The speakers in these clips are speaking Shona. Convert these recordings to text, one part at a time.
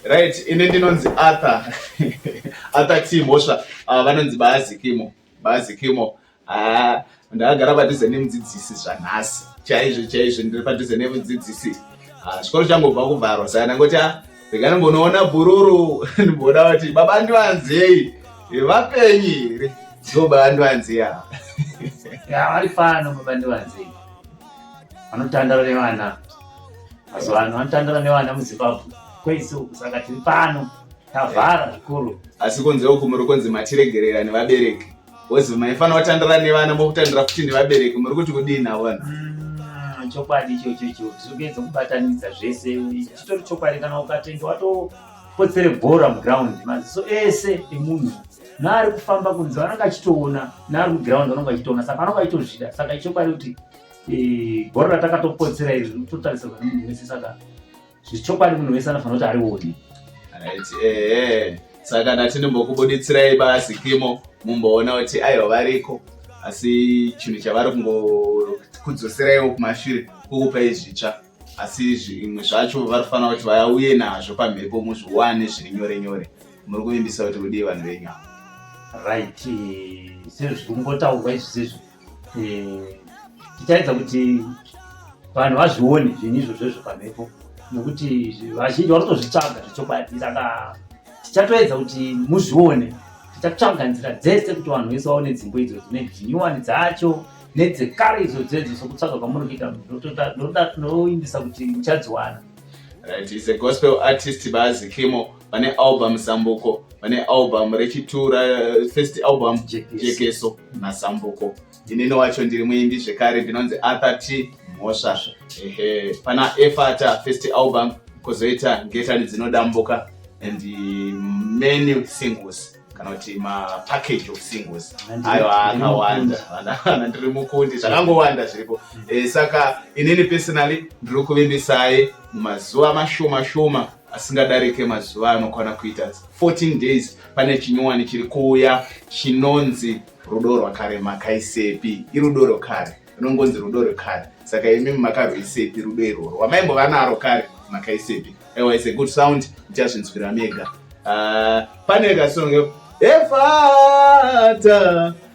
Right, ini ndinonzi Arthur Arthur T Mhosva ava ah, vanonzi Baazikimo Baazikimo haa ah, ndakagara padhuze nemudzidzisi zvanhasi chaizvo chaizvo ndiri padhuze nemudzidzisi ah, chikoro changobva kuvharwa saka ndangoti a rega ndimbonoona bhururu ndimboda kuti baba ndivanzei vapenyi here so baba ndivanzei ava vari fano baba ndivanzei vanotandara nevana mazuva ano vanotandara nevana muzimbabwe kwese uku saka tiri pano tavhara zvikuru asi kunze uku muri kunzi matiregerera nevabereki wozi maifana watandara nevana mokutandira futi nevabereki muri kuti kudii navona mm, chokwadi ichocho icho zvokuedza kubatanidza zvese chitori chokwadi kana ukatenga watopotsere bhora muground maziso ese emunhu naari kufamba kunze vanenge achitoona naari muground vanenge vachitoona saka vanenge vachitozvida saka ichokwadi kuti gore ratakatopotsera izvi rinototarisirwa nemunhu wese saka zvichokwadi munhu wese anofanira kuti arioni eh, saka ndati ndimbokubuditsirai basi kimo mumboona kuti aiwa variko asi chinhu chavari kungokudzoseraiwo kumashure kukupa izvitsva asi zvimwe zvacho vari kufanira kuti vauye nazvo pamhepo muzviwane zviri nyore nyore muri kuvimbisa kuti kudii vanhu venyu ava right sezviri kungotaurwa izvi sezvi eh, tichaedza kuti vanhu vazvione zvinhu izvozvo izvo pamhepo nokuti vazhinji vanotozvitsvaga zvechokwadi saka tichatoedza kuti muzvione tichatsvaga nzira dzese kuti vanhu vese vaone dzimbo idzo dzine dzinyuwani dzacho nedzekare idzo dzedzo sokutsvaga kwamuri kuita ndoimbisa kuti muchadziwana right is a gospel artist bazi kimo vane album sambuko vane album rechitura first album jekeso nasambuko inini wacho ndiri muimbi zvekare ndinonzi arthur t mhosva ehe pana efata first album kozoita ngetani dzinodambuka and many singles kana kuti mapackage of singles ayo akawanda ana ndiri mukundi zvakangowanda zviripo eh, saka inini personally ndiri kuvimbisai mumazuva mashoma shoma asingadarike mazuva anokwana kuita 14 days pane chinyowani chiri kuuya chinonzi rudo rwakare makaisepi irudo rwekare rinongonzi rudo rwekare saka imi makarwisepi rudo irworwo wamaimbova naro kare makaisepi ewa is a good sound ndichazvinzwira mega uh, pane kasonge efata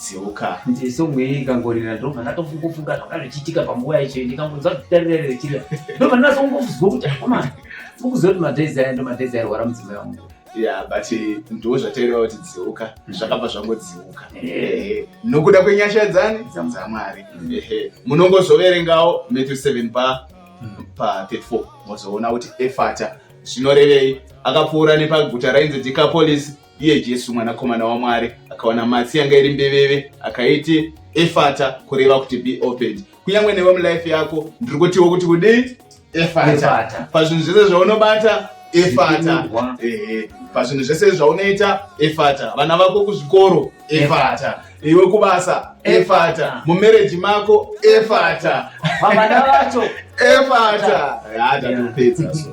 dzeuka nje song iyi ikangorira ndobva ndatongofunga zvanga zvichiitika panguva yacho ndikangonzwa zvitarira richira ndobva ndinazongozwa kuti koma ukuziva kuti madhezi aya ndo madhezi airwara mudzimai wangu ya but ndo zvataireva kuti dzeuka mm. zvakabva zvangodzeuka nokuda kwenyasha dzani dzamwari munongozoverengawo matthew 7 pa mm. pa 34 mozoona kuti efata zvinorevei akapfuura nepaguta rainzi dikapolisi Iye Jesu mwanakomana waMwari akawana matsi yanga iri mbeveve akaiti efata kureva kuti be opened. Kunyange newe mulife yako ndiri kutiwo kuti kudii efata pazvinhu zvese zvaunobata efata ehe pazvinhu zvese zvaunoita efata vana vako kuzvikoro efata iwe kubasa efata mumereji mako efata vana vacho efata yatatopedza so